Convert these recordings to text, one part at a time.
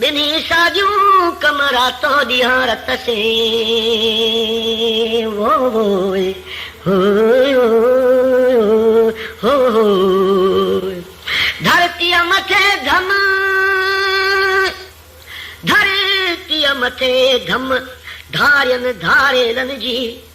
ٻنهي ساڳيون ڪم راتو ڏينهان رت سين وو وو اي هو هو هو هو ڌرتيء مٿي ڌم ڌرتيء مٿي ڌم ڌارين ڌاريلن جي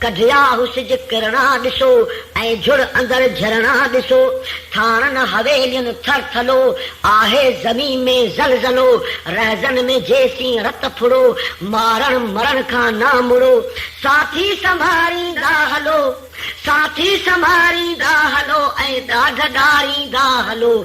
ڪڍيا هو سج ڪرڻا ڏسو، ۽ جھڙ اندر جھرڻا ڏسو. ٿاڻن حويلين ٿر ٿلو، آهي زمين ۾ زلزلو. رهزن ۾ جيسين رت ڦڙو، مارڻ مرڻ کان نه مڙو. ساٿي سنڀاريندا هلو، ساٿي سنڀاريندا هلو، ۽ ڏاڍ ڏاريندا هلو.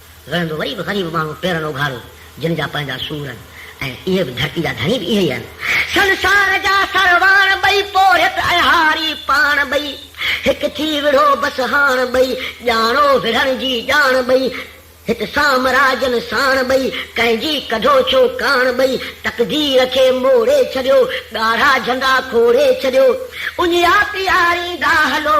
رهندو وري به غريب ماڻهو پيرن اگهاڙو جن جا پنهنجا سور آهن ۽ اهي به ڌرتي جا ڌڻي به اهي ئي آهن. سنسار جا سرواڻ ٻئي پورهيت ۽ هاري پاڻ ٻئي هڪ ٿي وڙهو بس هاڻ ٻئي ڄاڻو وڙهڻ جي ڄاڻ ٻئي هت سامراجن ساڻ ٻئي ڪنهن جي ڪڍو ڇو ڪاڻ ٻئي تقدير کي موڙي ڇڏيو ڳاڙها جهنڊا کوڙي ڇڏيو اڃيا پياريندا هلو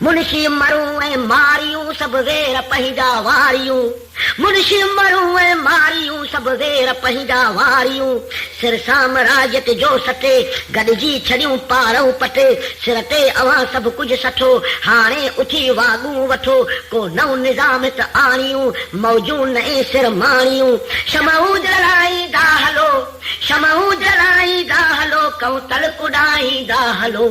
منشي مرون ۽ ماريون سڀ وير پنهنجا واريون منشي مرون ۽ ماريون سڀ وير پنهنجا واريون سر سامراجيت جو سٽي گڏجي ڇڏيون پارئون پٽي سر تي اوهان سڀ ڪجهه سٺو هاڻي اٿي واڳون وٺو ڪو نئون نظام هت آڻيون موجون نئين سر ماڻيون شمعون جلائيندا هلو شمعون جلائيندا هلو ڪئون تلڪ اڏائيندا هلو